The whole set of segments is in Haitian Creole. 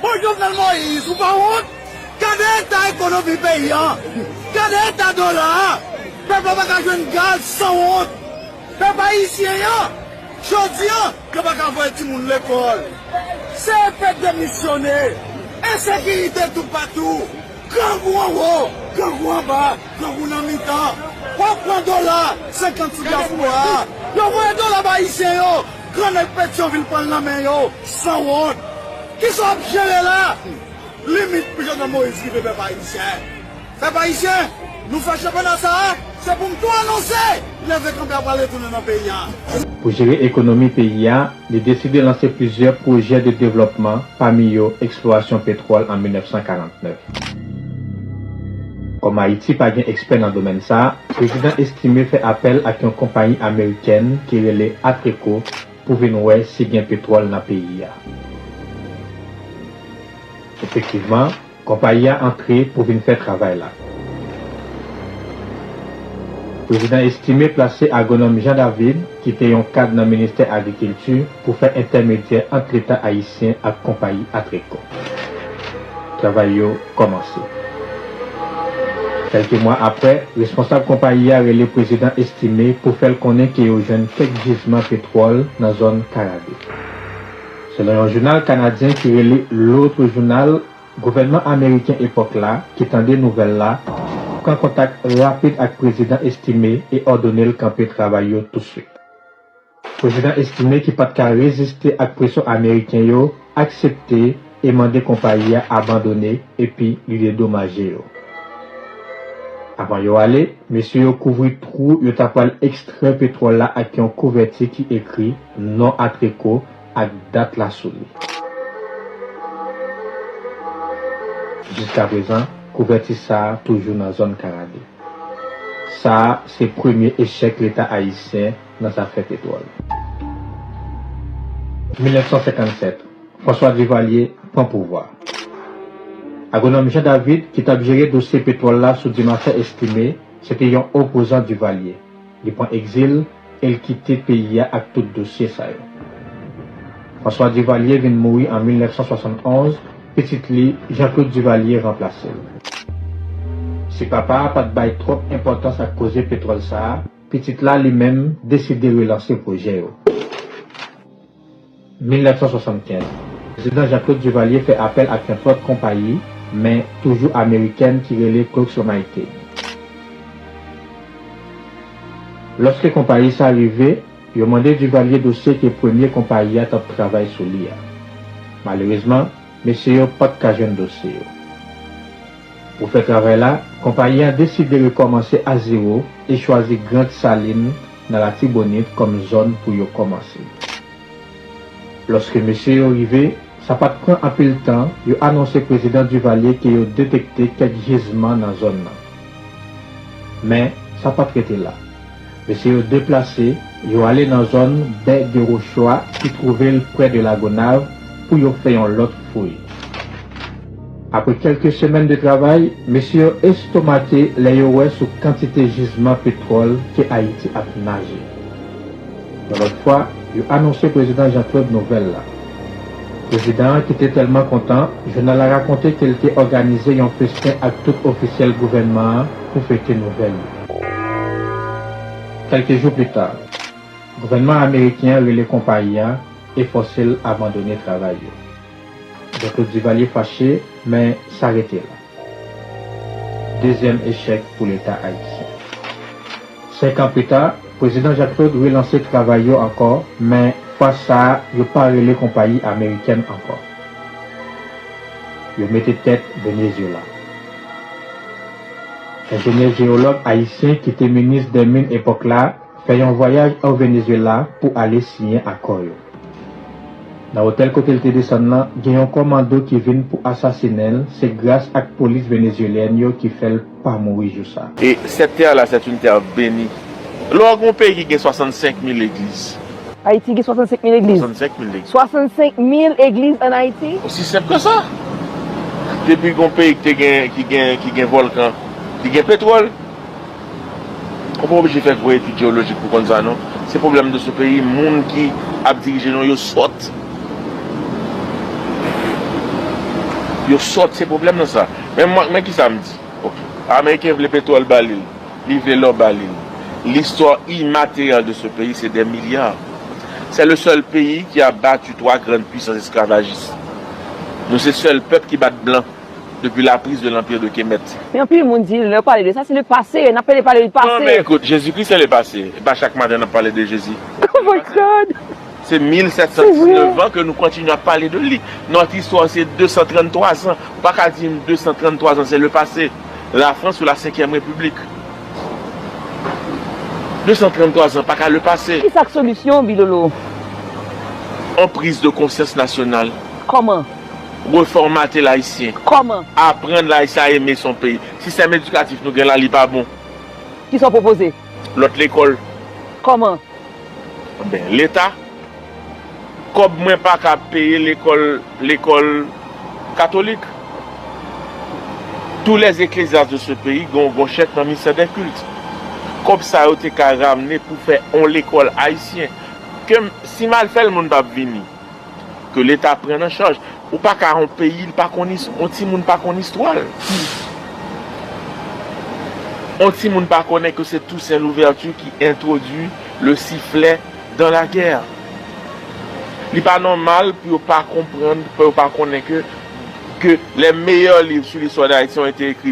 Bon Jovenel Moïse ou pa wont, gade eta ekonomi peyi an, gade eta dola a, pèp la paka jwenn gaz sanwont, pèp ayisyen an jodi an yo paka voye timoun lekòl, se pèp demisyone, ensekirite toupatou, grangou anwo, grangou anba, grangou nan mitan, wap pran dola 50 sou dyaspora, yo voye dola ba ayisyen yo. Gran nèg Petyonvil pran l nan men yo, sanwont! Kisa w ap jere la? Limit pou Jovenel Moïse rive pèp ayisyen. Pèp ayisyen, nou fè chanpyona sa a, se pou m tou anonse, leve kanpe a pral retounen nan peyi a. Pou jere ekonomi peyi a, li deside lanse plizyè pwojè de devlòpman, pami yo eksplorasyon petwòl an 1949. Kòm Ayiti pa gen ekspè nan domèn sa, Prezidan Estimé fè apèl ak yon konpayi amerikèn ki rele Atreco pou vin wè si gen petwòl nan peyi a. Efektivman, konpayi a antre pou vin fè travay la. Prezidan Estimé plase agwonòm Jean David, ki te yon kad nan ministè agrikilti pou fè entèmedyè ant leta ayisyen ak konpayi Atreco. Travay yo kòmanse. Kèlke mwa aprè, responsab konpayi a rele prezidan Estimé pou fè l konnen ke yo jwenn kèk jizman petwòl nan zòn Karabe. Selon yon jounal kanadyen ki rele L'Autre Journal, Gouvènman ameriken epòk la, ki tande nouvèl la, pran kontak rapid ak Prezidan Estimé e òdone l kanpe travay yo touswit. Prezidan Estimé ki pa t ka reziste ak presyon ameriken yo, aksepte e mande konpayi a abandone epi li dedomaje yo. Avan yo ale, mesye yo kouvri twou yo ta pral ekstrè petwòl la ak yon kouvèti ki ekri non Atreco ak dat la sou li. Jiskaprezan, kouvèti sa a toujou nan zòn Karabi. Sa a se premye echèk Leta ayisyen nan zafè petwòl. 1957, François Duvalier pran pouvwa. Agwonòm Jean David ki t ap jere dosye petwòl la sou Dumarsais Estimé se te yon opozan Duvalier. Li pran egzil e l kite peyi a ak tout dosye sa yo. François Duvalier vin mouri an 1971, pitit li, Jean Claude Duvalier ranplase l. Si papa a pa t bay twòp enpòtans ak koze petwòl sa a, pitit la, li menm, deside relanse pwojè yo. 1975. Prezidan Jean Claude Duvalier fè apèl ak yon lòt konpayi, men toujou amerikèn ki rele Cloxomite. Lòske konpayi sa rive, yo mande Duvalier dosye ke premye konpayi a t ap travay sou li a. Malerezman, mesye yo pa t ka jwenn dosye yo. Pou fè travay la, konpayi an deside rekòmanse a zewo e chwazi Grant Saline, nan Latibonit kòm zòn pou yo kòmanse. Lòske mesye yo rive, sa pa t pran anpil tan, yo anonse Prezidan Duvalier ke yo detekte kèk jizman nan zòn nan. Men, sa pa t rete la. Mesye yo deplase, yo ale nan zòn Bè de Rochwa ki twouve l prè de Lagonav pou yo fè yon lòt fouy. Apre kèlke semèn de travay, mesye yo estomake lè yo wè sou kantite jizman petwòl ke Ayiti ap naje. Yon lòt fwa, yo anonse Prezidan Jean Claude nouvèl la. Prezidan an ki te tèlman kontan, jounal la rakonte ke l te òganize yon festen ak tout ofisyèl gouvènman an pou fete nouvèl yo. Kèlke jou pli ta, gouvènman ameriken an rele konpayi a e fòse l abandone travay yo. Doktè Duvalier fache men sa rete la. Dezyèm echèk pou leta ayisyen. Senkan pita, Prezidan Jacques Claude relanse travay yo ankò men fwa sa a yo pa rele konpayi amerikèn ankò. Yo mete tèt Venezyela. Enjenyè jeyològ ayisyen ki te minis dè min epòk la fè yon vwayaj o Venezyela pou ale siyen akò yo. Nan otèl kote l te desann lan, gen yon kòmando ki vin pou asasinen l, se gras ak polis venezyelyèn yo ki fè l pa mouri jou sa. Et cette terre là c'est une terre bénie lè w gen yon peyi ki gen 65 mil legliz. Ayiti gen 65 mil legliz? 65 mil legliz. 65 mil egliz an Ayiti? Osi senp ke sa. Depi gen yon peyi ki gen ki gen volkan, ki gen petwòl. Ou pa oblije fè gwo etid jeolojik pou konn sa non. Se pwoblèm nou sou peyi, moun ki ap dirije nou yo sòt. Yo sòt se pwoblèm nan sa. Men kisa m di. Ameriken vle petwòl ba li l, li vle lò ba li l. Listwa imateryal de se peyi se dè milya. Sè le sèl peyi ki a batu 3 grann pwisans esklavajis. Nou se sèl pèp ki bat blan. depi la prise de l'Empire de Kemet. Men anpil moun di lè yo pale de sa se le pase, nap pede pale le pase. Non men ekout, Jezi Kris se le pase, e pa chak maten nap pale de Jezi. Oh my God! Se 1719 an ke nou kontinye ap pale de li. Notre histoire se 233 zan. Ou pa ka di m 233 zan se le pase. La Frans ou la senkyèm repiblik. 233 zan pa ka le pase. Ki sa k solisyon Bilolo? On prise de konsyans nasyonal. Koman? Refòmate l Ayisyen. Kòman? Aprann l Ayisyen a eme son peyi. Sistèm edikatif nou gen la li pa bon. Kisa w pwopoze? Lòt lekòl. Kòman? Ben, Leta. Kòb mwen pa ka peye lekòl lekòl katolik. Tous les ecclesiastes de ce pays gen yon gwo chèk nan Ministère des Cultes. Kòb sa yo te ka ramne pou fè yon lekòl Ayisyen. Ke m, si m al fè l moun pa p vini. Ke leta pran an chaj. Ou pa ka yon peyi li pa konn istwa. Yon timoun pa konn istwa l. Yon timoun pa konnen ke se Tousen Louvèti ki entwodwi le siflè dan la gè. Li pa nòmal pou yo pa konprann, pou yo pa konnen ke ke lè meyè liv sou listwa Dayiti yon ete ekri.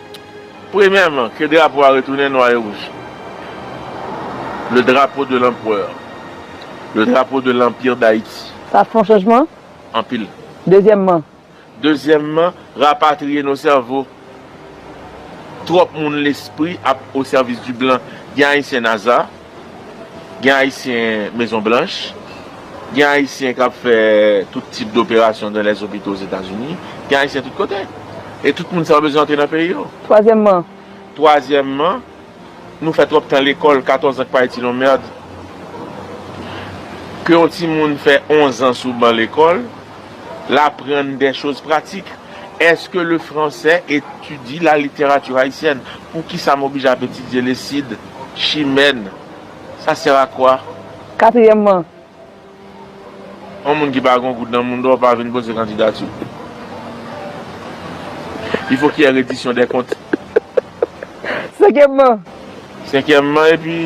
Premyèman, ke drapo a retounen nwa e wouj, le drapeau de l'empereur, le drapeau de l'empire d'Haïti. Sa fon chanjman? Anpil. Dezyèmman? Dezyèmman, rapatriye nos sèvo. Twòp moun lespri ap o sèvis di blan. Gen Ayisyen Naza. Gen Ayisyen Mezon Blanch, gen Ayisyen k ap fè tout tip doperasyon dan lèzopito Ozetazini, gen Ayisyen tout kote. E tout moun sa yo bezwen antre nan peyi yo. Twazyèmman. Twazyèmman, nou fè twòp tan lekòl, katòzan k pa itil on mèrd. Ke yon timoun fè onzan sou ban lekòl, l aprann dè choz pratik. Èske le fransè etidye la literati ayisyèn? Poukisa m oblije ap etidye le Sid? Chimène, Sa sè a kwa? Katriyèmman. Yon moun ki pa gen yon goud nan moun dòr pa vin poze kandidati. Li fo ki yè redisyon dè kont. Senkyèmman. Senkyèmman epi,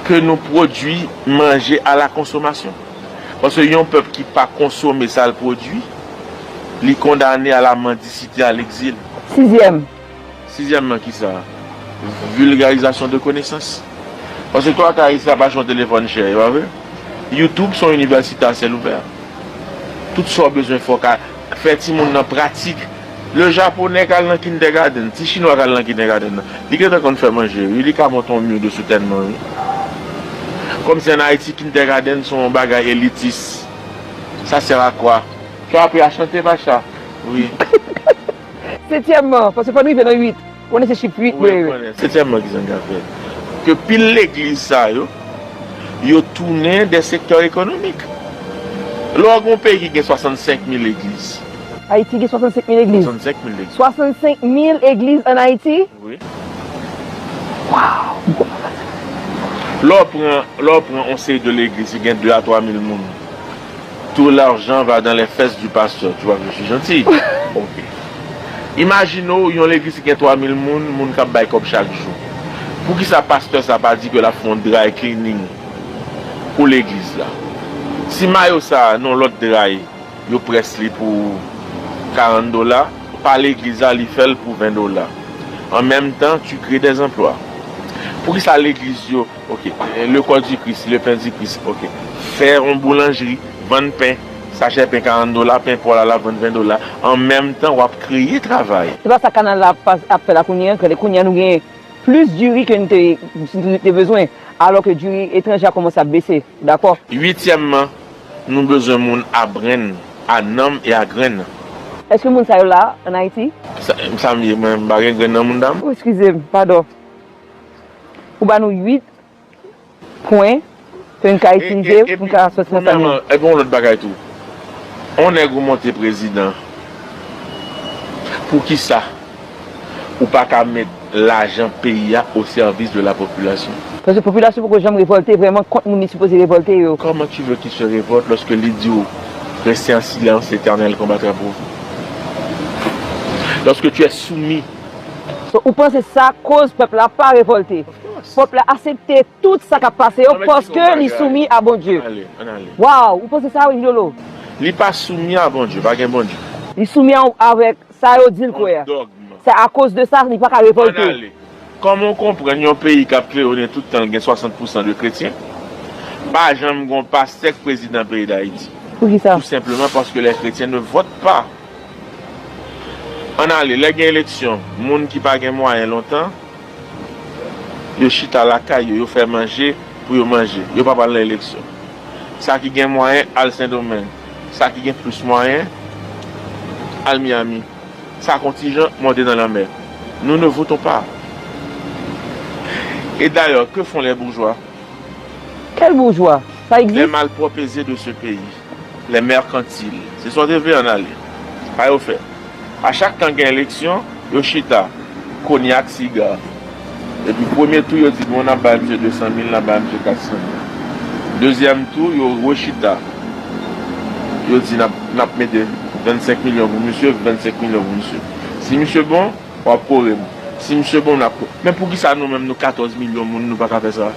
ke nou pwodui manje a la konsomasyon. Paske yon pèp ki pa konsome sa l pwodui, li kondane a la mandisite, a lekzil. Sizyèm, Sizyèmman, ki sa? Vilgarizasyon de konesans. Paske to ak Ayiti la pa jan w telefòn chè, e pa vre? Youtube s on inivèsite a syèl ouvè. Tout sa w bezwen fè w ka fè timoun nan pratik. Le Japonè k al nan kindègadenn, ti Chinwa k al nan kindègadenn nan, li gentan konn fè manje wi, li ka monte yon myodo soutènman wi. Kòmsi ann Ayiti kindègadenn s on bagay elitis? Sa sèr a kwa? Tu as appris à chanter, Pacha? Oui. Setyèmman, paske fò n rive nan uit. Ou konnen se chif uit mwen yo. Setyèmman, ki sa n ka fè pou ke pil legliz sa yo, yo tounen de sektè ekonomik? Lè w al gen yon peyi ki gen 65 mil legliz. Ayiti gen 65 mil legliz? 65 mil legliz. 65 mil legliz an Ayiti? Wi. Waww! M kontan tande sa. Lè w pran yon seri de legliz ki gen 2 a 3 mil moun. Tout l'argent va dans les fesses du pasteur tu vois que je suis gentil ok imagine w yon legliz ki gen 3000 moun moun kap bay kòb chak jou poukisa pasteur sa pa di ke lap fè yon dry cleaning pou legliz la si mayo sa non lòt dry yo près li pou 40 dola pa legliz la li fèl pou 20 dola en meme tan tu crée des emplois poukisa legliz yo Ok le corps du Christ, le pain du Christ ok fè yon boulanjri vann pen sachè pen 40 dola pen paw la lap vann 20 dola an menm tan wap kreye travay. Se pa sa kanal la ap fè la kounye an, kounye an nou gen plis diri ke nou te bezwen alò ke diri etranje a kòmanse ap bese dakò. Uityèmman nou bezwen moun a brenn, a nanm e a grenn. Eske moun sa yo la an Ayiti? Sa m ye mwen m pa gen grenn nan moun dam? Eskizem, padon. Ou ba nou 8 pwen ke n ka itilize pou n ka soti nan sa n ye. Epi yon lòt bagay tou. On nèg ou monte prezidan, poukisa ou pa ka met lajan peyi a o sèvis de la popilasyon? Paske popilasyon poko janm revòlte vrèman kont moun li sipoze revòlte yo. Comment tu veux qu'il se révolte lorsque li di w restez en silence l'éternel combattra pour vous? Lorsque tu es soumis So ou panse sa koz pèp la pa revolte. Pèp la asepte tout sa kap pase yo paske li soumi a Bondye. Waww ou panse sa wi Gnolo. Li pa soumi a Bondye, pa gen Bondye. Li soumi avèk sa yo dil kwè a. Se akoz de sa li paka revolte. Kòman ou konprann yon peyi kap klewonnen tout tanl gen 60 pousan de kretyen pa janm gon pastè k prezidan peyi dayiti? Poukisa? Tou senpleman paske les chrétiens ne votent pas. Ann ale, lè gen eleksyon, moun ki pa gen mwayen lontan, yo chita lakay yo, yo fè manje pou yo manje, yo pa pral nan eleksyon. Sa ki gen mwayen al Sendomeng, sa ki gen plis mwayen al Miyami, sa kontijan monte nan lanmè. Nou ne votons pas! Et d'ailleurs, que font les bourgeois? Kèl boujwa? Sa egzis? Les malpropes et de ce pays? Les mercantiles. Se sa w te vle an ale. Sa yo fè. A chak tan gen eleksyon, yo chita. Konya ak siga. Epi premye tou yo di bon nap bay misye 200 mil nap bay misye 400 mil. Dezyèm tou yo rechita. Yo di nap nap mete 25 milyon pou misye, 25 milyon pou misye. Si misye bon, wap kore m. Si misye bon nap kore. Men poukisa nou menm nou 14 milyon moun nou paka fè sa?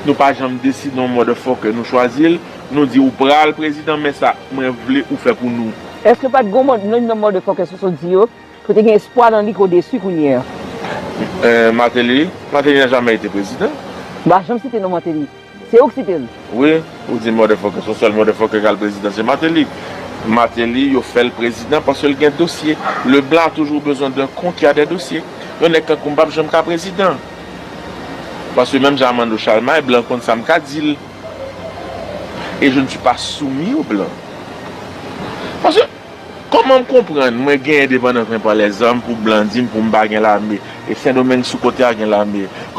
Nou pa janm deside yon motherfucker nou chwazi l. Nou di ou pral prezidan men sa mwen vle ou fè pou nou. Eske pat gon mòd youn nan motherfuckers ou sot di yo ki te gen espwa nan li ke w desu kounye an? Martelly? Martelly nan jamè ete prezidan. M pa janm site non Martelly. Se ou k site l. Wi, ou di motherfuckers yon sèl motherfucker k al prezidan se Martelly. Martelly yo fè l prezidan paske l gen dosye. Le blan a toujou bezwen d'un con qui a des dossiers. Yon nèg tankou m pap janm ka prezidan. Paske menm jan Armando Chalmay, blan konn sa m ka di l. Et je ne suis pas soumis aux blancs. Parce que comment m konprann mwen gen indépendance mwen pran les armes pou blan di m pou m pa gen lame et Sendomeng sou kote a gen lame.